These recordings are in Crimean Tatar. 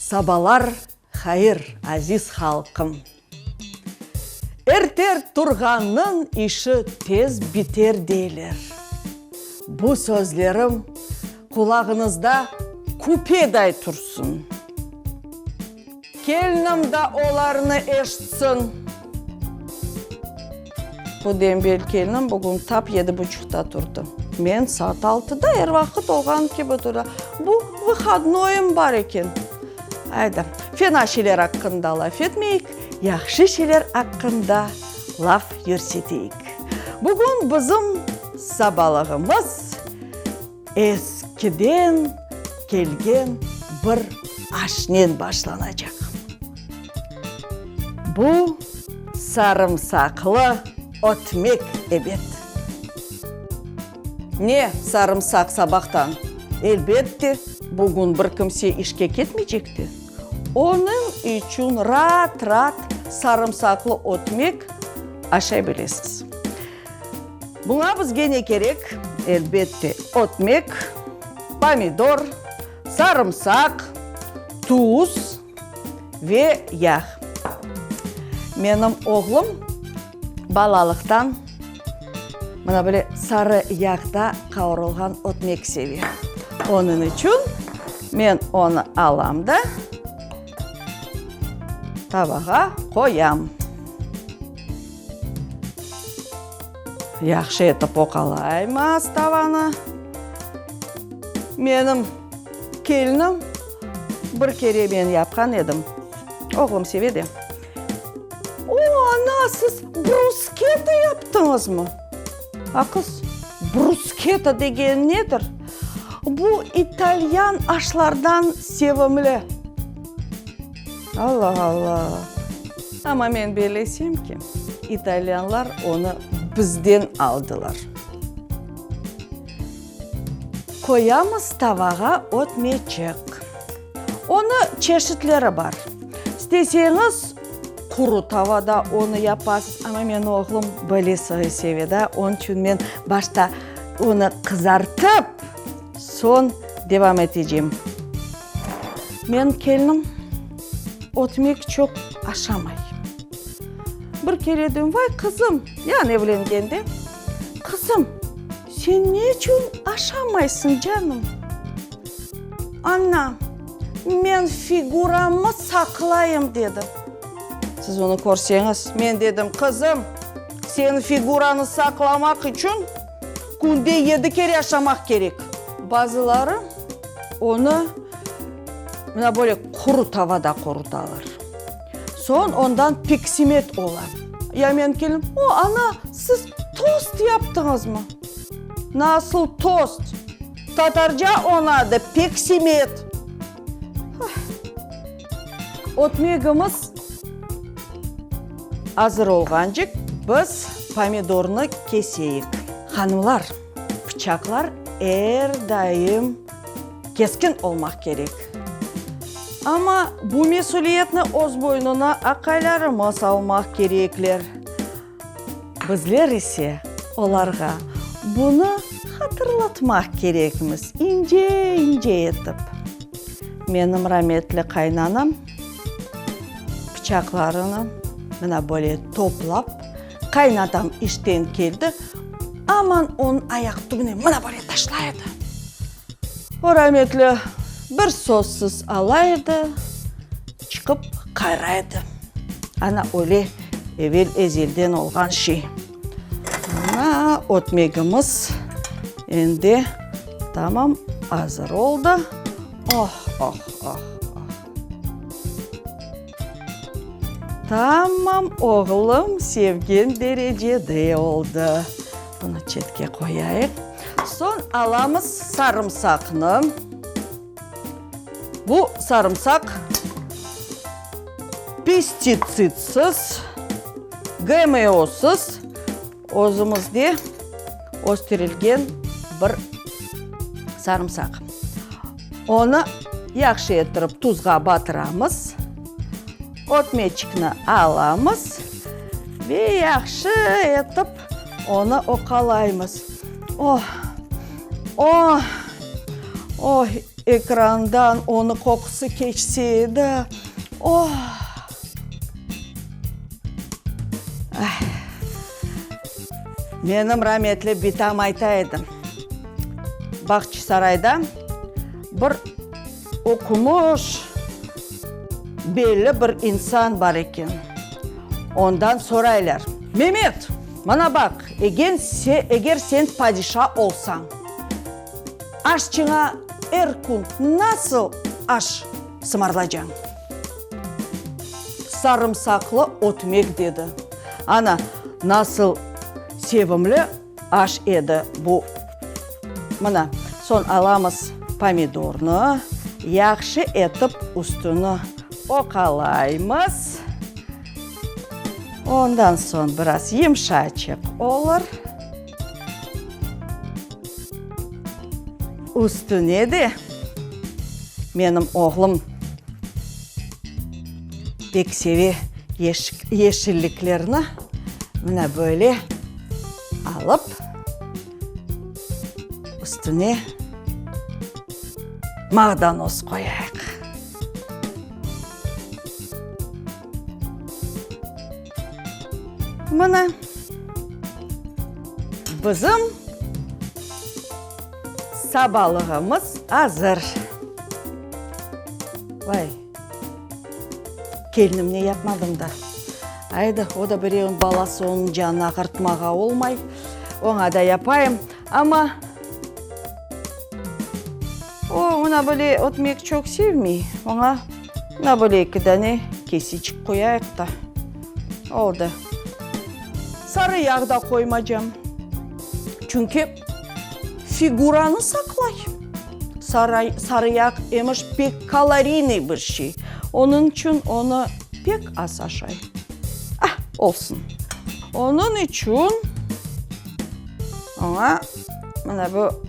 Sabalar hayır, aziz halqım! Erter turğannıñ işi tez biter deyler. Bu sözlerim qulağıñızda küpeday tursın. Kelnim da olarnı eşitsin. Bu dembel kelnim bugün tap yedi buçuqta turdı. Men saat altıda, er vaqıt olğan kibi tura. Bu vıhodnoyım bar eken. Ayda, fena şeyler aqqında laf etmeyik, yahşı şeyler aqqında laf yürseteyik. Bugün bizim sabalığımız. Eskiden kelgen bir aşnen başlanacaq. Bu sarımsaqlı ötmek, ebet. Ne, sarımsaq sabahtan? Elbette, bugün bir kimse işke ketmeycekti. Onıñ içün raat-raat sarımsaqlı ötmek aşay bilesiz. Buña bizge ne kerek? Elbette, ötmek, pomidor, sarımsaq, tuz ve yağ. Menim oğlum balalıqtan mına böyle sarı yağda qavurılğan ötmek seve. Onıñ içün men onı alam da tabağa qoyam. Yahşı etip oqalaymiz tavanı. Menim kelinim bir kere men yapqan edim, oğlum seve de. O, ana, siz brusketa yaptıñızmı? A, qız, brusketa degen nedir? Bu italyan aşlardan sevimli. Alla-alla! Amma men belesem ki, italyanlar onı bizden aldılar. Qoyamız tavağa ötmeycek. Onı çeşitleri bar. İsteseñiz, quru tavada onı yapasız, amma meni oğlum böyle soy seve da, onıñ içün men başta onı qızartıp, soñ devam eteceyim. Menim kelinim ötmek çoq aşamay. Bir kere diyorum, vay, qızım, yani evlengende, qızım, sen ne içün aşamaysıñ, canım? Ana, men figuramnı saqlayım, dedi. Siz bunı körseñiz. Men dedim, qızım, senin figuranı saqlamaq içün künde yedi kere aşamaq kerek. Bazıları. Onı mına böyle quru tavada qurutalar. Soñ ondan peksimet ola. Ya menim kelinim, O, ana, siz tost yaptıñızmı? Nasıl tost? Tatarca onı adı peksimet. Ötmegimiz azır olğancık, biz pomidornı keseyik. Hanımlar! Pıçaqlar er daim keskin olmaq kerek. Amma bu mesüliyetni öz boynuna aqaylarımız almaq kerekler. Bizler ise olarğa bunı hatırlatmaq kerekmiz ince-ince etip. Menim rametli qaynanam pıçaqlarını mına böyle toplap, Qaynatam işten keldi, aman onıñ ayaq tübüne mına böyle taşlay edi. O rametli bir sözsiz ala edi, çıqıp qayra edi. Ana öyle evel ezelden olğan şey. Mına ötmegimiz endi tamam azır oldı. Oh-oh-oh-oh! Tamam, oğlum, sevgen derecede oldı. Bunı çetke qoyayıq. Soñ alamız sarımsaqnı. Bu sarımsaq pestitsidsız, GMOsız. Özümizde östürilgen bir sarımsaq. Onı yahşı ettirip tuzğa batıramız. Ötmeçikni alamız ve yahşı etip onı oqalaymız. Oh! Oh! Oh! Ekrandan onı qoqusı keçse edi. Oh! Menim rametli bitam ayta edi, Bağçasarayda bir oqumış, belli bir insan bar eken, ondan soraylar, Memet, mana baq, eger sen padişa olsañ, aşçıña er kün nasıl aş. sımarlacañ. Sarımsaqlı ötmek dedi. Ana, nasıl sevimli aş edi bu! Mına, soñ alamız pomidornı, yahşı etip üstüni oqalaymız. Ondan soñ biraz yımşaçıq olur. Üstüne de menim oğlum pek seve yeşilliklerni, mına böyle alıp, üstüne mağdanoz qoyayıq. Mına, bizim sabalığımız azır. Vay, kelnimne yapmadım da. Ayda, o da birevniñ balası, onıñ canını ağırtmağa olmay, oña da yapayım. Amma. O, oña böyle ötmek çoq sevmey. Oña, oña böyle eki dane kesiçik qoyayıq da, oldı. Sarı yağ da qoymaycam. Çünki figuranı saqlay. Saray, sarı yağ emiş pek kaloriynıy bir şey. Onıñ içün onı pek az aşay. Ah, olsun. Onıñ içün oña, mına bu.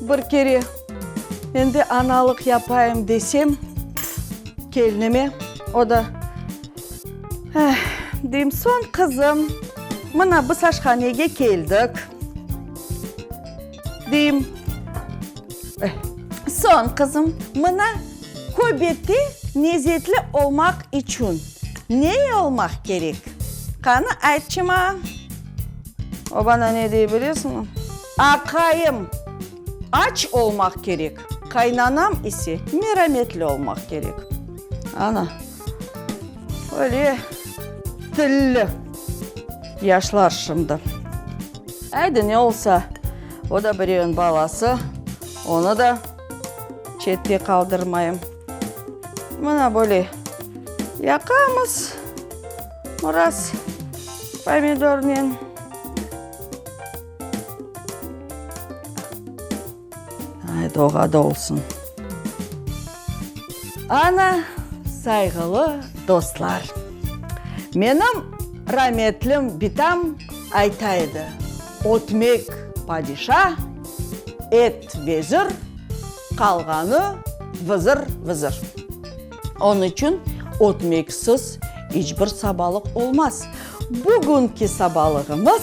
Bir kere endi analıq yapayım desem, kelnime, o da, eh, deyim, soñ, qızım, mına, biz aşhanege keldik. Deyim. Soñ, qızım, mına köbette nezetli olmaq içün ney olmaq kerek? Qanı aytçı mañ. O bana ne dey bilesiñmi? Aqayım aç olmaq kerek, qaynanam ise merametli olmaq kerek. Ana. Öyle tilli yaşlar şimdi. Haydi, ne olsa, o da birevniñ balası, onı da çette qaldırmayım. Mına böyle yaqamız biraz pomidornen. Doğada olsun. Ana, sayğılı dostlar. Menim rametlim bitam ayta edi, ötmek padişa, et vezir, qalğanı vızır vızır. Onı içün ötmeksiz iç bir sabalıq olmaz. Bugünki sabalığımız.